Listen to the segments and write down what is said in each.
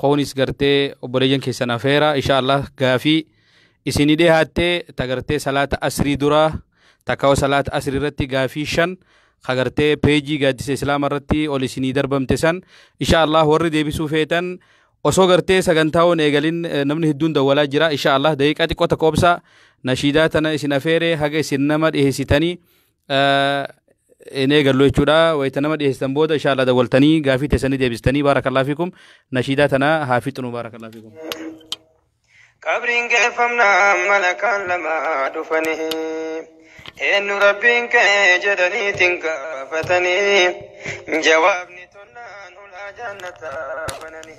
koonis gartee obboleeyyan keessan afeera insha Allah gaafii isinii dhihaattee tagartee salaata asrii duraa takkawa salaata asrii irratti gaafii shan kagartee peejii gaaddisa islaama irratti ol isinii darbamte san insha Allah warri deebisuu feetan osoo gartee sagantaawwan eegalin namni hedduun dawwalaa jira insha Allah daqiiqaa xiqqoo takka obsaa nashiidaa tana isin afeere haga isin nama dhiheessitanii hin eegallu jechuudha wayita nama dhiyeessitan booda inshaallah dawwaltanii gaafii teessanii deebistanii baarakallaa fiikum nashiidaa tana haa fixnu baarakallaa fiikum. qabriin geeffamnaa malakaan lama dhufanii eenyu rabbiin kee jedhaniitiin gaafatanii jawaabni tollaan hulaa jaannataa bananii.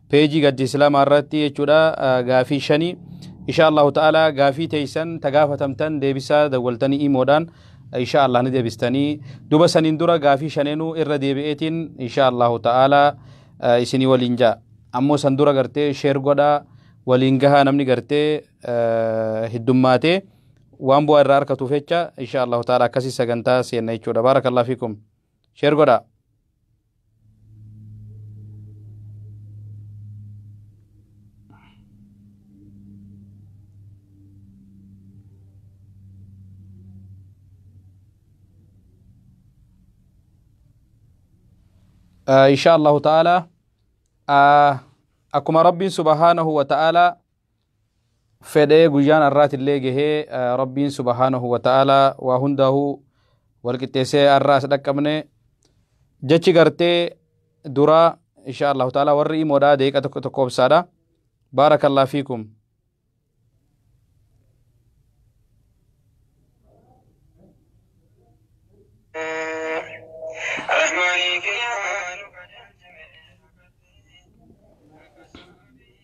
peejii gaddi islaamaa irratti jechuudha gaafii shanii insha allahu ta'ala gaafii teeysan ta gaafatamtan deebisaa dawwaltanii imoodhaan insha allah ni deebistanii duba saniin dura gaafii shaneenuu irra deebi'eetiin insha allahu ta'ala isinii waliin ja'a ammoo san dura gartee sheer godhaa waliin gahaa namni gartee hiddummaatee waan bu'aa irraa arkatuuf jecha insha allahu ta'ala akkasii sagantaa seenna jechuudha baarakallah fiikum sheer godhaa insha allahu ta'ala akkuma rabbiin subhaanahu wa ta'ala fedhee guyyaan arraatillee gahee rabbiin subhaanahu wa ta'aalaa waa hundaahuu walqixxeessee arraa as dhaqqabne jechi gartee duraa insha allahu ta'aalaa warri imoodhaa deeqa tokko tokko obsaadha baarakallah fiikum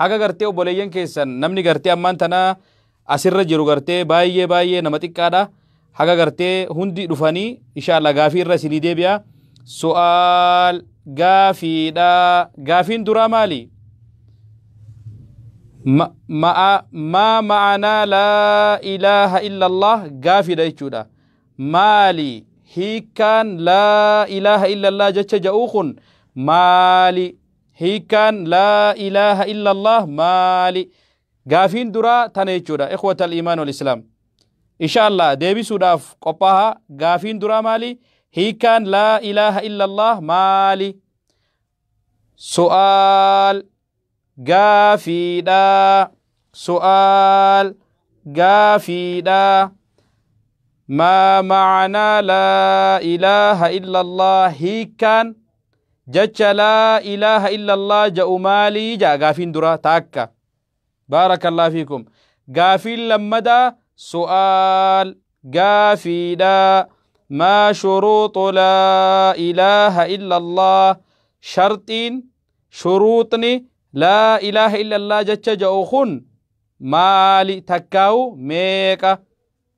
Haga gartee obboleeyyan keessan namni gartee ammaan tana asirra jiru gartee baay'ee baay'ee nama xiqqaadha. Haga gartee hundi dhufanii inshaallah gaafii irra isinii deebi'a. Su'aal gaafiidha. Gaafiin duraa maali? Ma- ma'a maa ma'anaa laa ilaaha illallah gaafiidha jechuudha. Maali hiikkaan laa ilaaha illallah jecha ja'uu kun maali? hiikkaan laa ilaaha illallah maali gaafiin duraa tana jechuudha ikhwata al-imaan wal islaam insha allah deebisuudhaaf qophaaha gaafiin duraa maali hiikkaan laa ilaaha illallah maali su'aal gaafiidha su'aal gaafiidha maa macanaa laa ilaaha illallah hiikkaan Jacha laa ilaaha illallah ja'u maalii ja'a gaafiin duraa taakka. Baarakallah fiikum. Gaafiin lammadaa su'aal gaafiidha. Maa shuruuxu laa ilaaha illallah sharxiin shuruuxni laa ilaaha illallah jacha ja'u kun maali takkaawu meeqa?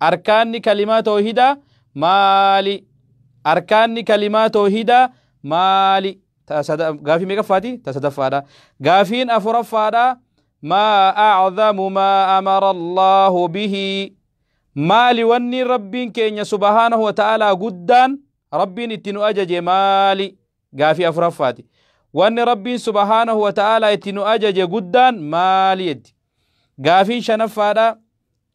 Arkaanni kalimaa toohidaa maali? Arkaanni kalimaa toohidaa maali? Gaafii meeqaffaati? Ta sadaffaadha. Gaafiin afuraffaadha. Maa aczamu maa amara Allaahu bihi. Maali wanni Rabbiin keenya subhaanahu wa ta'aalaa guddaan Rabbiin itti nu ajaje maali? Gaafii afuraffaati. Wanni Rabbiin subhaanahu wa ta'aalaa itti nu ajaje guddaan maali jetti? Gaafiin shanaffaadha.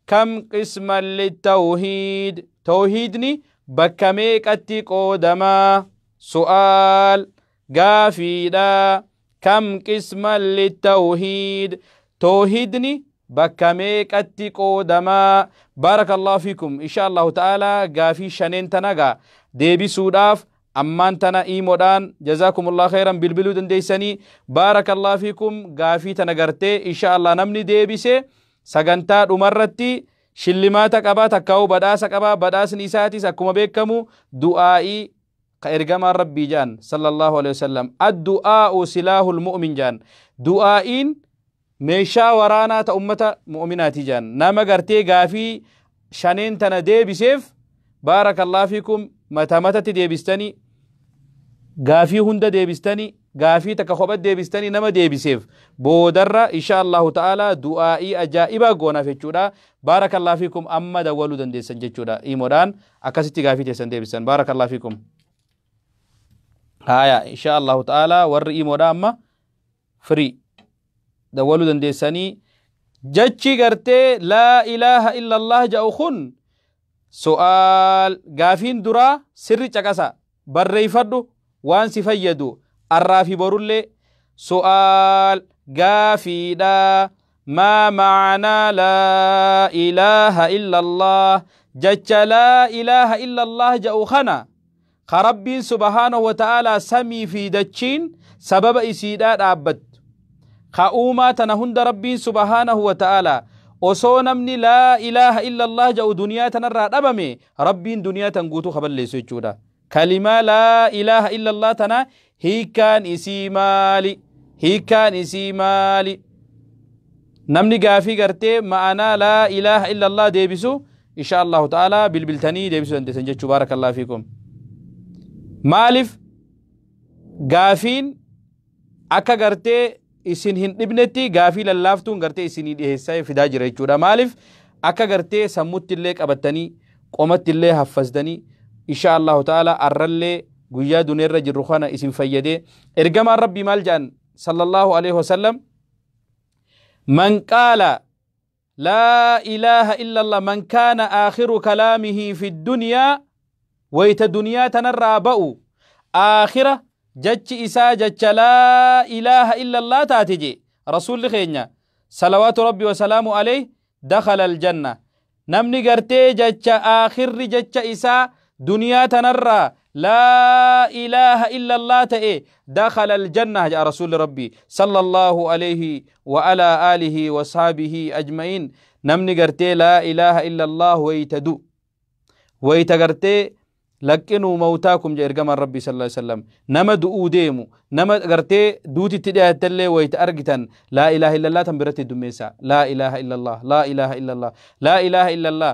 Kam qisman littawhiid? Tawhiidni bakka meeqatti qoodama? Su'aal, gaafiidha. Kam qisman littawhiid? Tawhiidni bakka meeqatti qoodama? Baarakallahu fiikum. Insha Allahu ta'ala gaafii shaneen tana gaa deebisuudhaaf ammaan tana iimoodhaan jazaakumullah khayran bilbiluu dandeessanii baarakallahu fiikum gaafii tana gartee insha Allah namni deebise Sagantaa dhumarratti shillimaata qaba, takkaa'uu badhaasa qaba, badhaasni isaatis akkuma beekamu du'aa'ii ka ergamaan rabbii ja'an sallallahu alaihi wasallam addu'aa'u silaahul mu'min ja'an du'aa'iin meeshaa waraanaa ta ummata mu'minaati ja'an nama gartee gaafii shaneen tana deebiseef baarakallah fikum mata matatti deebistani gaafii hunda deebistani gaafii takka kophat deebistani nama deebiseef boodarra insha Allahu ta'ala du'aa'ii ajaa'ibaa goonaaf jechuudha baarakallah fikum amma dawwaluu dandeessan jechuudha iimodhaan akkasitti gaafii teessan deebistan baarakallah fikum haya insha Allahu ta'ala warri iimodhaa amma free dawwalu dandeessanii jechi gartee laa ilaaha illallah ja'u kun su'aal gaafiin duraa sirri caqasa barreeyfadhu waan si fayyadu arraa fi borullee su'aal gaafiidha maa maanaa laa ilaaha illallah jecha laa ilaaha illallah ja'u kana ka Rabbiin subhaanahu wa ta'aalaa samii fi dachiin sababa isiidhaa dhaabbattu ka uumaa tana hunda Rabbiin subhaanahu wa ta'aalaa osoo namni laa ilaaha illa Allah ja'u duniyaa tanarraa dhabame Rabbiin duniyaa tan guutuu ka balleessu jechuudha kalimaa laa ilaaha illa Allah tana hiikkaan isii maali hiikkaan isii maali namni gaafii gartee ma'anaa laa ilaaha illa Allah deebisu inshaa allahu ta'ala bilbiltanii deebisuu dandeessan jechuu baarakallahu fiikum maalif gaafiin akka gartee isin hin dhibnetti gaafii lallaaftuun gartee isinii dhiheessaa fidaa jira jechuudha maalif akka gartee sammutti illee qabattanii qomatti illee haffastanii inshaa allahu ta'ala arrallee guyyaa duneerra jirru kana isin fayyadee ergamaan rabbii maal jedhan sallallahu alaihi wasallam man qaala Laa ilaaha illallah man kaana aakhiru kalaamihii fi dunyaa wayta duniyaa tanarraa ba'u aakhira jachi isaa jacha laa ilaaha illallah taate jee rasuulli keenya salawaatu rabbi wasalaamu aleyh dakhala aljanna namni gartee jacha aakhirri jacha isaa duniyaa tanarraa laa ilaaha illallah ta'e dakhala aljannah ja'a rasuulli rabbii sallallahu alayhi wa ala alihi wa sahbihi ajma'iin namni gartee laa ilaaha illallah wayta du wayta gartee laqqinuu mawtaakum ja ergamaan rabbii sallallahu alayhi wasallam nama du'uu deemu nama gartee duutitti dhiyaatallee wayta argitan laa ilaaha illallah tan biratti dummeessa laa ilaaha illallah laa ilaaha illallah laa ilaaha illallah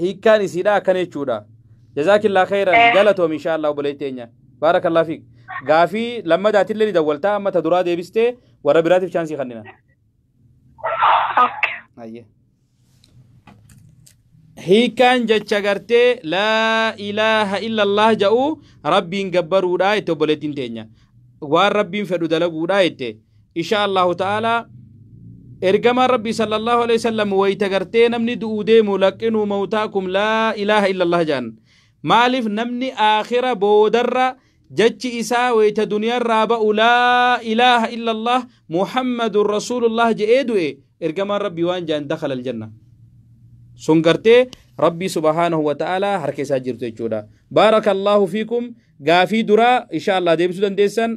hiikkaan isiidha akkana jechuudha jazaakillaa khayran Eh. galatoom inshaa allah obboleetti teenya baarakallaa fiik gaafii lammadaatillee ni dawwaltaa amma ta duraa deebistee warra biraatiif chaansii kannina Okay. Ayyee. Hiikkaan jecha gartee laa ilaaha illallah ja'u rabbiin gabbaruudha jette obboleettiin teenya. Waan rabbiin fedhu dalaguudha jette. inshaa allahu ta'aalaa ergamaan rabbii sallallahu alaihi wasallam wayta gartee namni du'uu deemu laqqinuu mawtaakum laa ilaaha illallah jaan maaliif namni aakhira boodarra jechi isaa wayta duniyaarraa ba'u laa ilaaha illallah muhammadun rasuulullah je'ee du'e ergamaan rabbii waan jaan dakhala aljanna sun gartee rabbii subhaanahu wa ta'aalaa harka isaa jirtu jechuudha baarakallahu fiikum gaafii duraa inshaa allah deebisuu dandeessan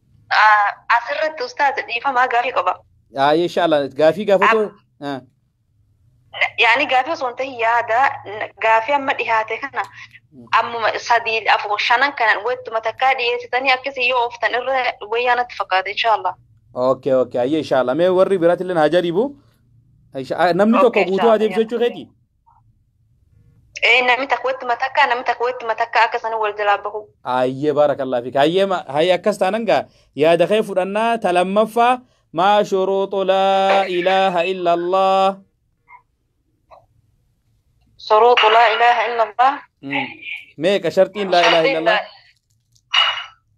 Asirratti ustaaz dhiifamaa gaafii qaba. Aayee inshaalla gaafii gaafatu. Yaani gaafii osoo hin ta'in yaada gaafii amma dhihaate kana ammuma sadii afur shanan kanan wettuma takkaa dhiyeessitanii akkasii yoo ooftan irra wayyaa natti fakkaata inshaalla. Okay okay ayyee inshaalla mee warri biraatti illee haa jaribu. Namni tokko guutuu haa deebisu jechuu keeti. Ee namni takka watti matakkaa namni takka watti matakkaa akka sana wal jalaa bahu. Ayyee baarakallah fi hayyee ma- hayyee akkas taanan gaa yaada kee fudhannaa ta lammaffaa maa shuruuxu laa ilaaha illa allah Suruutu laa ilaaha illallah. Mm. meeqa sharxiin laa ilaaha illa allah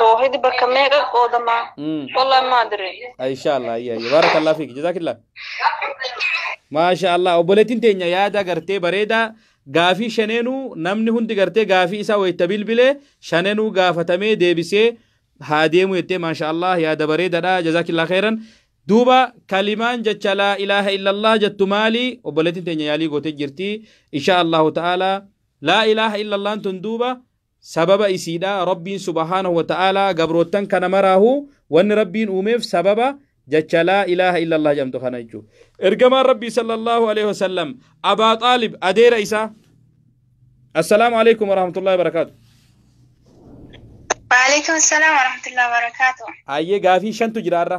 toohidi bakka meeqa qoodama Mm. wallahi maa dire insha allah ayya ayya baarakallah fiik jazaakillah maasha allah obboleettiin teenya yaada gartee bareedaa gaafii shaneenuu namni hundi gartee gaafii isaa wayita bilbilee shaneenuu gaafatamee deebisee haa deemu jettee maasha allah yaada bareedaadha jazaakillah khairan duuba kalimaan jecha laa ilaaha illallah jettu maali obboleettiin teenya yaalii gootee jirti insha allahu ta'ala Laa ilaaha illallaan tun duuba sababa isiidha, Rabbiin subhaanahu wa ta'aalaa gabroottan kana maraahu wanni Rabbiin uumeef sababa jacha laa ilaaha illallah jedhamtu kana jechuudha. Ergamaan Rabbii sallallahu aleyhi wa sallam Abaa Xaalib adeera isaa Assalaamu aleykum wa rahmatullahi wa barakaatu. Waalaikum salam warahmatullahi wabarakatuh. Hayyee gaafii shantu jira har'a.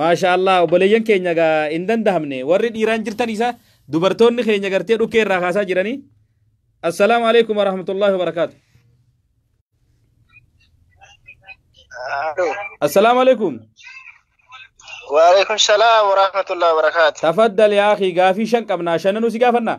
Maashaallah obboleeyyan keenya gaa hin dandahamne warri dhiiraan jirtan isa dubartoonni keenya gartee dhukkee irraa kaasaa jiranii assalaamu alaikum warahmatullahi wabarakaatu Aloo. assalaamu alaikum Waalaikum salaam warahmatullahi wabarakaatu. tafaddal yaa akhi gaafii shan qabnaa shananuu si gaafannaa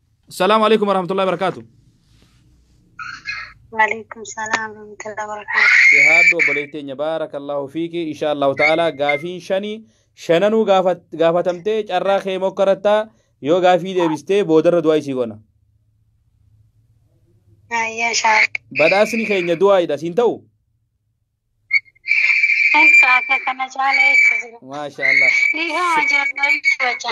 Salaamu alaikum warahmatullahi wabarakaatu. Waalaikum salaam warahmatullahi wabarakatuh. Dhihaadhu obboleetti keenya baarakallahu fiiki insha Allahu ta'ala gaafiin shanii shananuu gaafat- gaafatamtee carraa kee mokkarattaa yoo gaafii deebistee boodarra du'aa isii goona. Ayyaa shaa. Badhaasni keenya du'aadha siin ta'u. Kan kaaka kana caalee itti jira. Maasha Allah. Ni gama jirtu jecha.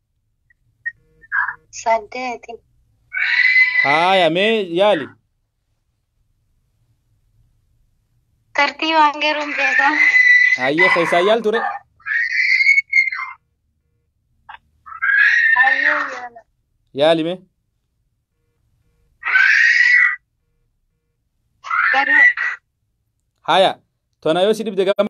saddeeti haaya mee yaali tartiibaan garuun beekaa hayyee keessaa yaal ture hayyuu yaala yaali mee garuu haaya tona yoo si dhibde gama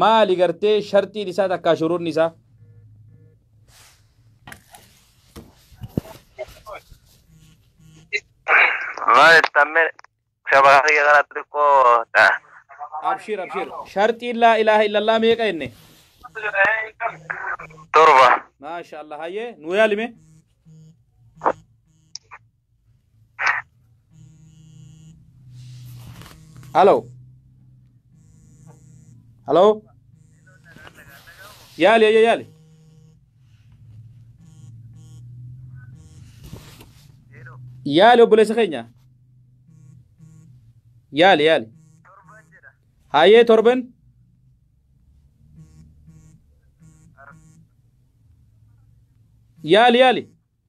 maali gartee sharxiin isaa takkaa shuruunni isaa maal ittamme shabaa kiyya kana xixiqqoo ta'a. abshir abshir sharxiin laa ilaaha illallah meeqa jenne torba maasha allah hayyee nu yaalime Halo. Halo. Yaali ayya yaali. Yaali obboleessa keenya. Yaali yaali. Hayyee torban. Yaali yaali.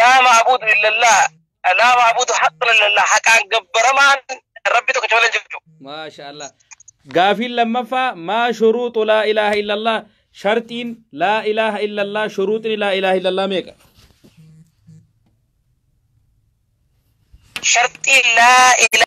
laa maabuudu illallaa laa maabuudu haqqun illallaa haqaan gabbaramaan rabbi tokkicha malee hin jiru maasha allah gaafiin lammaffaa maa shuruuxu laa ilaaha illallah sharxiin laa ilaaha illallah shuruuxni laa ilaaha illallah meeqa sharxii laa ilaaha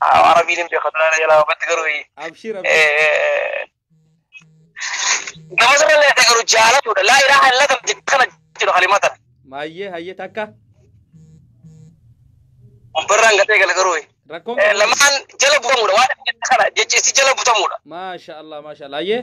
Arabiin hin beekatu laala jalaa wabbatti garuu Abshir abshir. eh, gama sanallee adda garuu jaalatuudha. Laa ilaaha illa kan jedhu kana jedhu kalimatan. Maayyee hayyee takka Barraan gatee gala garuu. rakkoon Eh, qabu. Lamaan jala butamuudha waan inni jedhu kana jechi isii jala butamuudha. Maasha Allah maasha Allah hayyee.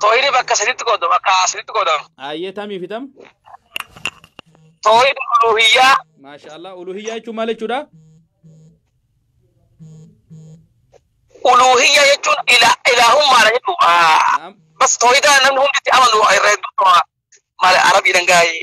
Tooyini bakka sadiitti qoodama. Bakka sadiitti qoodama. Ayyee tamii fi tam. Tooyini uluhiyyaa. Maasha Allah. Uluhiyyaa jechuun maal jechuudha? Uluhiyyaa jechuun ila ilaahummaadha jechuudha. Naam. Bas tooyidaa namni hundi itti amanu irra hedduu qaba. Maal arabiidhaan gaa'ee.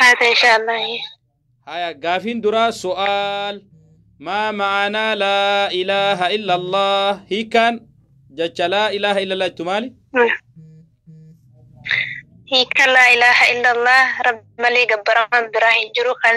Haata inshaallah. Haya gaafiin duraa su'aal maa ma'anaa laa ilaaha illallah hiikaan jecha laa ilaaha illallah jettu maali? Hiika laa ilaaha illallah rabbi malee gabbaramaan biraa hin jiru kan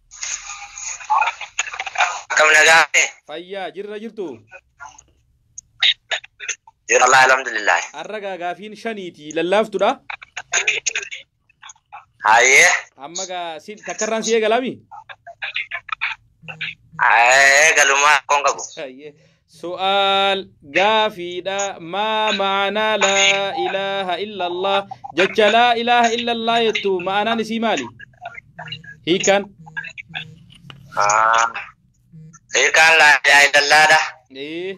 Akkam nagaa ta'e? Fayyaa jirra jirtu. Jira Allah alhamdulillah. Har'a gaa gaafiin shaniiti lallaaftudha. Hayyee. Amma gaa si takkarraan si eegalami. Ee galumaa koon qabu. Hayyee. Su'aal, Gaafiidha, Maa ma'anaa laa ilaaha illallah? Jecha laa ilaaha illallah jettu ma'anaan isii maali? Hiikaan? Hiikaan laa ilaaha illallaadha. Ee.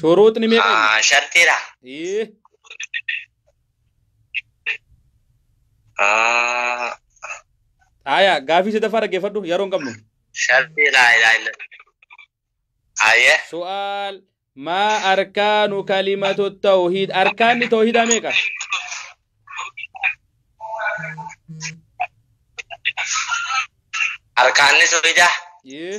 Shuruuxni meeqa inni? Ah, shartiidha. Ee, Ah, Aayaa gaafii sadaffaa dhaggeeffadhu yeroo hin qabnu. shartii laa ilaa illa. Aye. Su'aal maa arkaanu kalimatu tawhiid arkaanni tawhiidaa meeqa? Arkaanni sobidaa. Ee,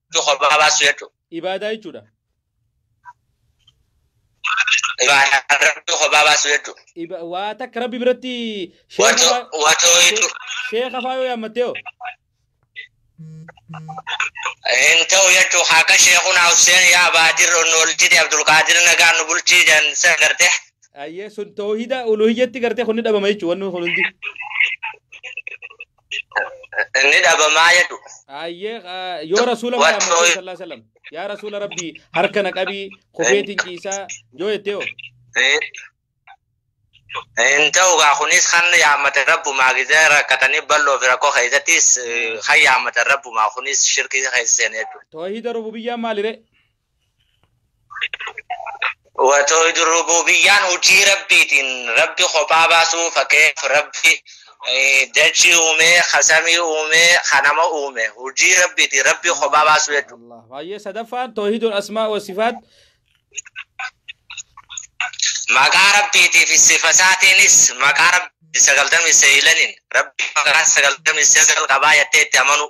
Iddoo kophaa baasuu jechuudha. Ibaadaa jechuudha. Ibaadaa rabbi kophaa baasuu jechuudha. Iba- Waa takka rabbi biratti sheeka Wato faa- wato jechuudha. sheeka faa yoo yaammattee hoo? Hin ta'u jechuun akka sheekun Hussein yaa Baadir Onnoolchiti Abdulqaadir Nagaan nu bulchii jedhan san gartee. Ayyee sun toohida uluhiyyatti gartee kun ni dhabama jechuudha wanni kun hundi. Inni dhabamaa jedhu. Ayyee ah, yoo rasuula Warra Muhammad hooy- sallallahu alaihi wasallam yaa rasuula rabbii harka na qabii kufeetiin ciisaa yoo jettee hoo Hin ta'u gaa kunis kan yaammatan rabbumaa gisee rakkatanii bal'oo fi rakkoo keessattis eh, kan yaammatan rabbumaa kunis shirkii keessa seenee jechuudha. toohida rububiyyaan maalire Watoo idul rububiyyaan hojii rabbiitiin rabbi kophaa baasuu fakkeef rabbi eh, dachii uumee kasamii uumee kanama uume hojii rabbiitiin rabbi kophaa baasuu jechuudha. Allah. Baay'ee sadaffaan toohidul asmaa wa sifaat Maqaa rabbiitii fi sifa isaatiinis maqaa rabbi sagaltamii seeylaniin rabbi maqaa sagaltamii seegal qabaa jettee itti amanuu.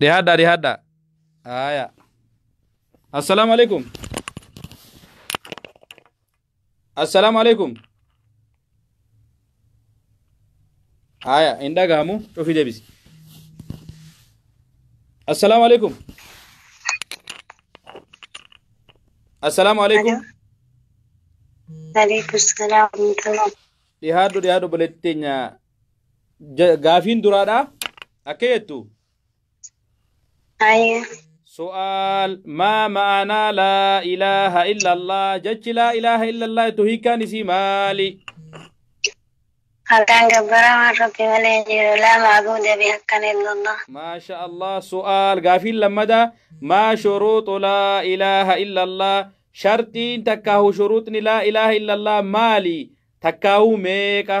Dhihaadhaa dhihaadhaa. Aayaa. Assalaamu alaikum. Assalaamu alaikum. Aayaa hin dhagahamu cufi deebisi. Assalaamu alaikum. Assalaamu alaikum. Alaikum salaam. Dhihaadhu dhihaadhu obboleetti teenya Ja- Gaafiin duraadha. Akka jettu. Ayya. Su'aal maa ma'anaa laa ilaaha illallah jechi laa ilaaha illallah jettu hiikaan isii maali? Haqaan gabbaramaan rabbi malee hin jiru. Laa maabuuda bihaqqan illallah. Maasha Allah su'aal gaafiin lammada maa shuruuxu laa ilaaha illallah sharxiin takkaahu shuruuxni laa ilaaha illallah maali? Takkaahu meeqa?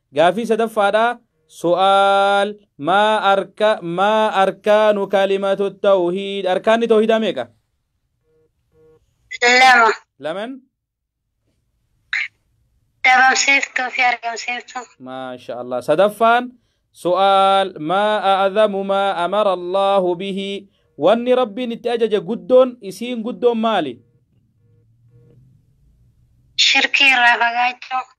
Gaaffii sadaffaadhaa Su'aal maa arka maa arkaanu kalimatu tawhiid arkaanni tawhiidaa meeqa? lama Laman dhabamsiiftuu fi argamsiiftuu maasha Allah sadaffaan su'aal maa a'zamu maa amara Allahu bihi wanni rabbiin itti ajaje guddoon isiin guddoon maali? shirkii irraa fagaachuu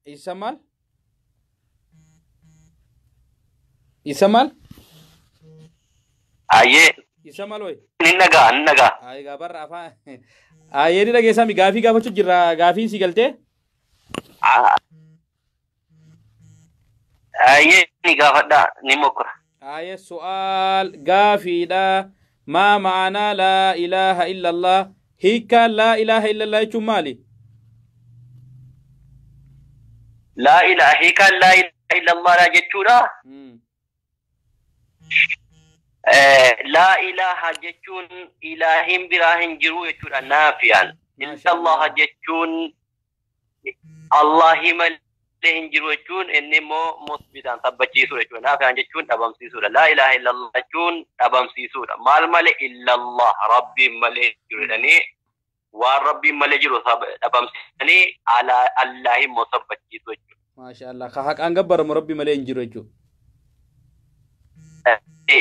Isa maal? Isa maal? Ayyee Isa maal wayi? ni dhagaa ni dhagaa. Ayi gaa barra afaan. Ayyee ni dhageessaa mi gaafii gaafachuu jirra gaafiin si galtee? Ayyee ni gaafadhaa ni mokkora. Aayee su'aal, gaafiidha, Maa ma'anaa laa ilaaha illallah? Hiikkaan laa ilaaha illallah jechuun maali? Laa ilaaha hiikaan laa ilaaha illallah laa jechuudha. Laa ilaaha jechuun ilaahiin biraa hin jiru jechuudha naafiyaan. Illallah jechuun Allaahii malee hin jiru jechuun inni immoo musbitaan sabbachiisuu jechuudha. Naafiyaan jechuun dhabamsiisuudha. Laa ilaaha illallah jechuun dhabamsiisuudha. Maal malee illallah rabbiin malee hin jiru jedhanii waan rabbiin malee jiru dhabamsiisanii Allaahi immoo sabbachiisuu jechuudha. maashaa allah ka haqaan gabbaramu rabbi malee hin jiru jechuudha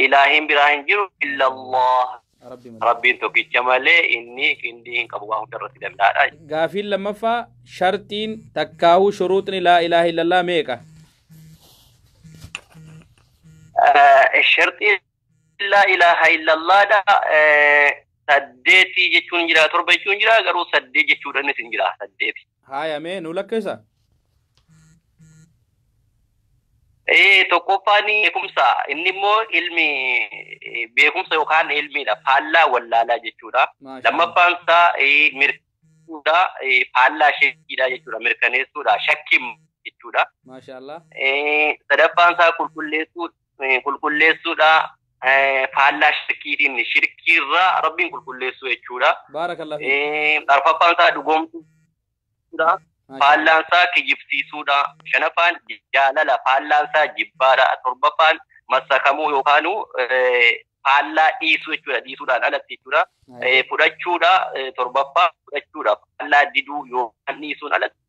ilaahiin biraa hin jiru illallah rabbi malee rabbiin tokkicha malee inni qindii hin qabu waan hunda irratti danda'aadha gaafiin lammaffaa sharxiin takkaahuu shuruuxni laa ilaaha illallah meeqa sharxiin laa ilaaha illallaadha saddeeti jechuun hin jira torba jechuun hin jira garuu saddeet jechuudha innis hin jira saddeeti. Haaya mee nu lakkeessa. Ee tokkoffaan beekumsa inni immoo ilmi eh, beekumsa yookaan ilmiidha faallaa wallaalaa jechuudha. Maashaa Lammaffaan isaa eh, mirkaneessuudha eh, faallaa shakkiidha jechuudha mirkaneessuudha shakkiin jechuudha. Maashaallah. Eh, Sadaffaan isaa qulqulleessuudha qulqulleessuudha faallaa shirkiitiin shirkiirraa rabbiin qulqulleessuu jechuudha. Baarakallah. Arfaffaan isaa dhugoomsuudha. Faallaan isaa kijibsiisuudha. Shanaffaan jaalala faallaan isaa jibbaadha. Torbaffaan massakamuu yookaan faallaa dhiisuu jechuudha. Dhiisuudhaan alatti jechuudha. Fudhachuudha torbaffaa fudhachuudha faallaa diduu yookaan dhiisuun alatti.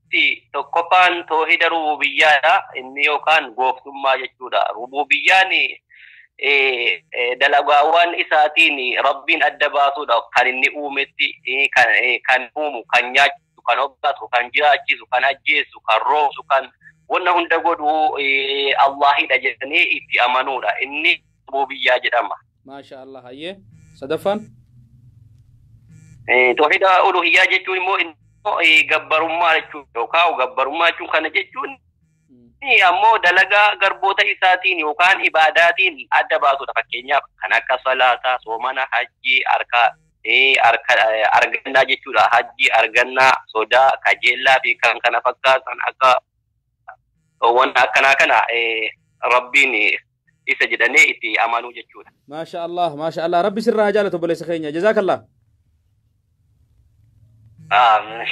Rabbi tokkoffaan toohida rububiyyaadha. Inni yookaan gooftummaa jechuudha. Rububiyyaan dalagaawwan isaatiin Rabbiin adda baasuudha. Kan inni uumetti kan uumu, kan nyaachisu, kan obbaatu, kan jiraachisu, kan ajjeesu, kan roobsu, kan wanna hunda godhu Allaahidha jedhanii itti amanuudha. Inni Aboo Biyyaa jedhama. Maashaa Allah hayyee. Sadaffaan. Eh, Tawhiida uluhiyyaa jechuun immoo immoo, eh, gabbarummaa jechuudha yookaan gabbarummaa jechuun kana jechuun eh, ammoo dalagaa garboota isaatiin yookaan ibaadaatiin adda baasudha fakkeenyaaf kan akka salaataa soomana hajjii harka eh, harka eh, argannaa jechuudha hajjii argannaa sodaa kajeellaa fi kan kana fakkaatan akka waan akkanaa kana rabbiin isa jedhanee itti amanuu jechuudha. Maasha Allah, maasha Allah. Rabbi sirraa haa jaalatu obboleessa keenya. Jazaakallah.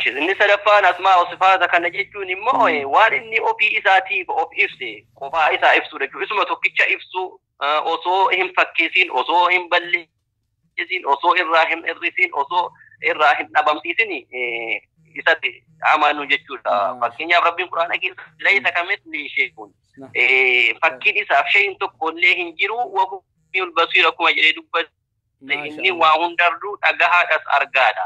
Inni sadaffaan asmaa osifaata kana jechuun immoo waan inni ofii isaatiif of ibse qofaa isaa ibsuu jechuudha. Isuma tokkicha ibsuu osoo hin fakkeessiin osoo hin balleessiin isin osoo irraa hin hir'isin osoo irraa hin dhabamsiisin isatti amanu jechuudha. Fakkeenyaaf Rabbiin Quraana keessa laysa kamithli shay'un fakkiin isaaf shay'in tokko illee hin jiru wahumiyul basiir akkuma jedhee dubbate inni waa hundarruu dhagahaadhas argaadha.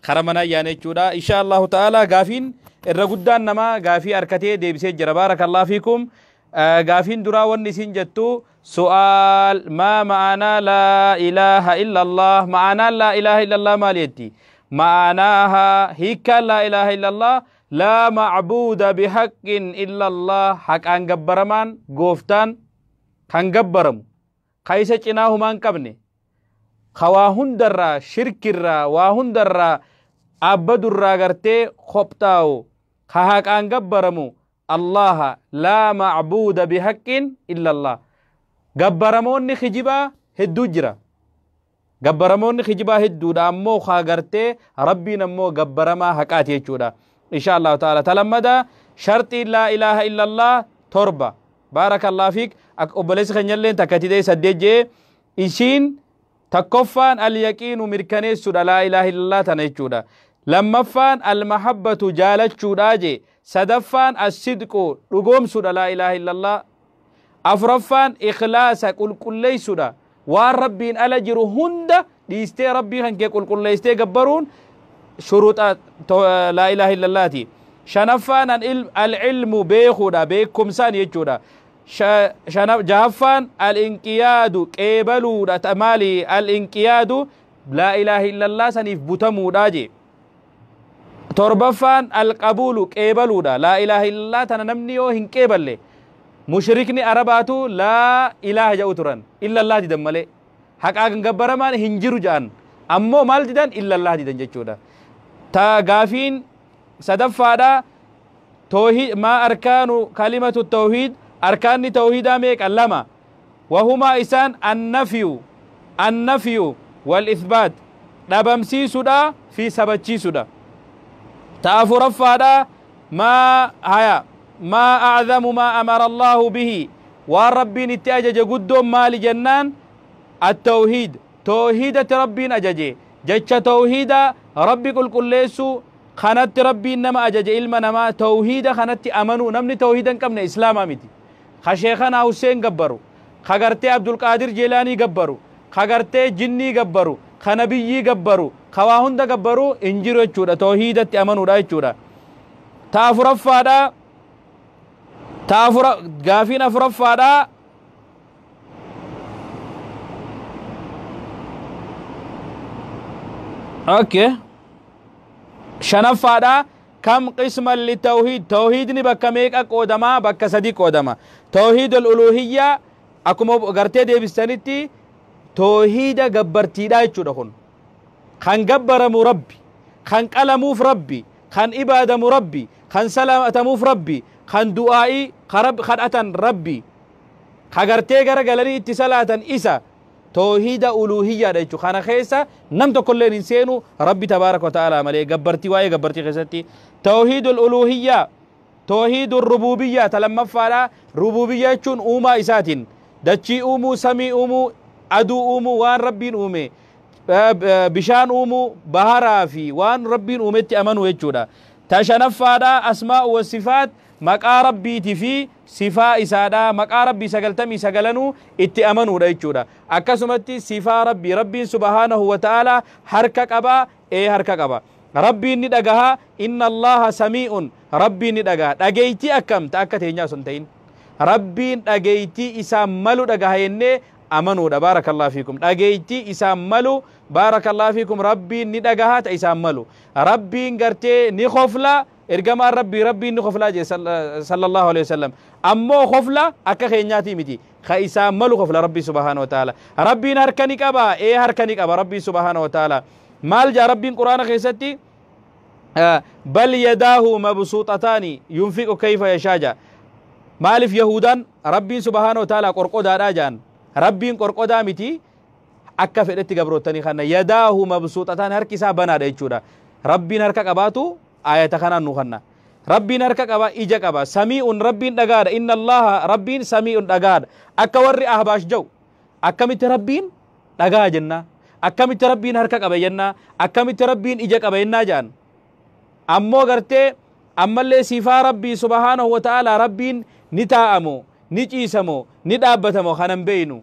Kara manaa yaane jechuudha. Insha Allahu ta'ala gaafiin irra guddaan namaa gaafii arkatee deebisee jira. Baarakallahu fiikum. Eh, Gaafiin duraa wanni isin jettu su'aal maa ma'aanaa laa ilaaha illallah ma'aanaan laa ilaaha illallah maal jetti? Ma'aanaaha hiikkaan laa ilaaha illallah laa macbuuda bihaqqin illallah haqaan gabbaramaan gooftaan kan gabbaramu ka isa cinaa humaa hin qabne ka waa hundarraa shirkirraa waa hundarraa aabbadurraa gartee kophtaawu ka haqaan gabbaramu allaha laa macbuuda bihaqqin illa allah gabbaramoonni kijibaa hedduu jira gabbaramoonni kijibaa hedduudha ammoo kaa gartee rabbiin ammoo gabbaramaa haqaati jechuudha insha allahu ta'ala talammada sharxii laa ilaaha illallah torba baarakallah fiik ak- obboleessi keenyalleen takka tidee saddeet jee ishiin takkoffaan alyaqiinu mirkaneessuudha laa ilaaha illallah tana jechuudha lammaffaan almahabbatu jaalachuudha jee Sadaffaan As-sidqu, dhugoomsuudha Laa ilaaha illallah. Afuraffaan Ikhlaasa, qulqulleessuudha. Waan Rabbiin ala jiru hunda dhiistee Rabbii kan kee qulqulleessitee gabbaruun shuruuxa Laa ilaaha illallaati. Shanaffaan Al-ilmu, beekuudha, beekumsaan jechuudha. Jahaffaan Al-inqiyaadu, qeebaluudha. Maali Al-inqiyaadu? Laa ilaaha illallah saniif butamuudha jee. torbaffaan alqabuulu qeebaluudha laa ilaaha illallaa tana namni yoo hin qeeballe mushrikni arabaatu laa ilaaha ja'u turan illallaa didan malee haqaa kan gabbaramaan hin jiru ja'an ammoo maal didan illallaa didan jechuudha ta gaafiin sadaffaadha toohid maa arkaanu kalimatu toohid arkaanni toohidaa meeqa lama Wahumaa isaan annafyu, annafyu, wal'ithbaat, dhabamsiisudha fi sabachiisudha. Ta afuraffaadha, maa, haya, maa a'dhamu maa amara Allaahu bihi, waan Rabbiin itti ajaje guddoon maali jennaan, attawhiid, toohiidatti Rabbiin ajaje, jecha toohiida, Rabbi qulqulleessuu, kanatti Rabbiin nama ajaje ilma namaa, toohiida kanatti amanuu, namni toohiida hin qabne islaama miti. ka sheekhanaa husseen gabbaru, ka gartee abdulqaadir jeelaanii gabbaru, ka gartee jinnii gabbaru, ka nabiyyii gabbaru, ka waa hunda gabbaru hin jiru jechuudha tawhiidatti amanuudha jechuudha ta afuraffaadha ta afura gaafiin afuraffaadha okay shanaffaadha Kam qisman litawhiid tawhiidni bakka meeqa qoodama bakka sadi qoodama tawhiidol uluuhiyyaa akkuma gartee deebistanitti tawhiida gabbartiidha jechuudha kun kan gabbaramu rabbi kan qalamuuf rabbi kan ibaadamu rabbi kan salaatamuuf rabbi kan du'aa'ii kan rabbi kadhatan rabbi ka gartee gara galanii itti salaatan isa Toohiida uluuhiyyaadha jechuudha. Kana keessa nam tokkolleen hin seenu Rabbi tabaaraka wa ta'aalaa malee gabbartii waa'ee gabbartii keessatti toohiidul uluuhiyyaa toohiidul rubuubiyyaa ta lammaffaadha. Rubuubiyyaa jechuun uumaa isaatiin dachii uumuu, samii uumuu, aduu uumuu, waan Rabbiin uume bishaan uumuu, baharaa fi waan Rabbiin uumetti amanuu jechuudha. Ta shanaffaadha asmaa wa sifaat maqaa Rabbiitii fi sifaa isaadha. Maqaa Rabbii 99nuu itti amanuudha jechuudha. Akkasumatti sifaa Rabbii, Rabbiin subhaanahu wa ta'aalaa harka qabaa? Ee harka qaba. Rabbiin ni dhagahaa? Inna Allaaha samii'un, Rabbiin ni dhagaha. Dhageeytii akkam? Ta akka teenyaa osoo hin ta'in. Rabbiin dhageeytii isaan malu dhagaha jennee amanuudha. Baarakallaahu fiikum. Dhageeytii isaan malu baarakallaahu fiikum Rabbiin ni dhagaha ta isaan malu. Rabbiin gartee ni kofla. Ergamaan Rabbii Rabbiin ni koflaa jee sallallahu alaihi wasallam. Ammoo kofla akka keenyaatii miti. Ka isaan malu kofla Rabbii subhaanahu wa ta'ala. Rabbiin harka ni qaba. Ee harka ni qaba Rabbiin subhaanahu wa ta'ala. Maal jaa Rabbiin Qur'aana keessatti bal yadaahu mabsuuxataani yunfiqu kayfa yashaa jaa. Maaliif Yahuudaan Rabbiin subhaanahu wa ta'ala qorqodaadhaa jaan. Rabbiin qorqodaa miti. akka fedhetti gabroottanii kanna yadaahu mabsuuxataan harki isaa banaadha jechuudha rabbiin harka qabaatu aayata kanaan nu kanna rabbiin harka qaba ija qaba samii'un rabbiin dhagaadha inna allaha rabbiin samii'un dhagaadha akka warri ahbaash ja'u akkamitti rabbiin dhagaa jennaa akkamitti rabbiin harka qaba jennaa akkamitti rabbiin ija qaba jennaa ja'an ammoo gartee ammallee sifaa rabbii subhaanahu wa ta'aalaa rabbiin ni taa'amoo ni ciisamoo ni dhaabbatamoo kanan beeynu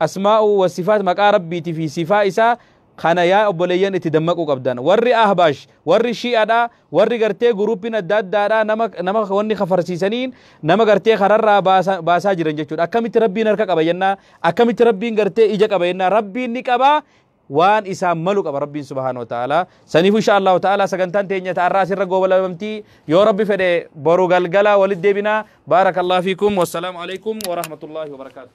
asmaa'u wa sifaat maqaa rabbiiti fi sifaa isaa kana yaa obboleeyyan itti dammaquu qabdan warri ahbaash warri shi'adha warri gartee guruuppiin adda addaadha nama nama wanni kafarsiisaniin nama gartee kararraa baasa- baasaa jiran jechuudha akkamitti rabbiin harka qaba jennaa akkamitti rabbiin gartee ija qaba jennaa rabbiin ni qaba waan isaan malu qaba rabbiin subhaanahu wa ta'ala saniif insha Allahu ta'ala sagantaan teenya ta'arraa asirra goobalabamtii yoo rabbi fedhe boru galgala walit deebinaa baarakallahu fiikum wassalaamu alaikum wa rahmatullahi wa barakaatuh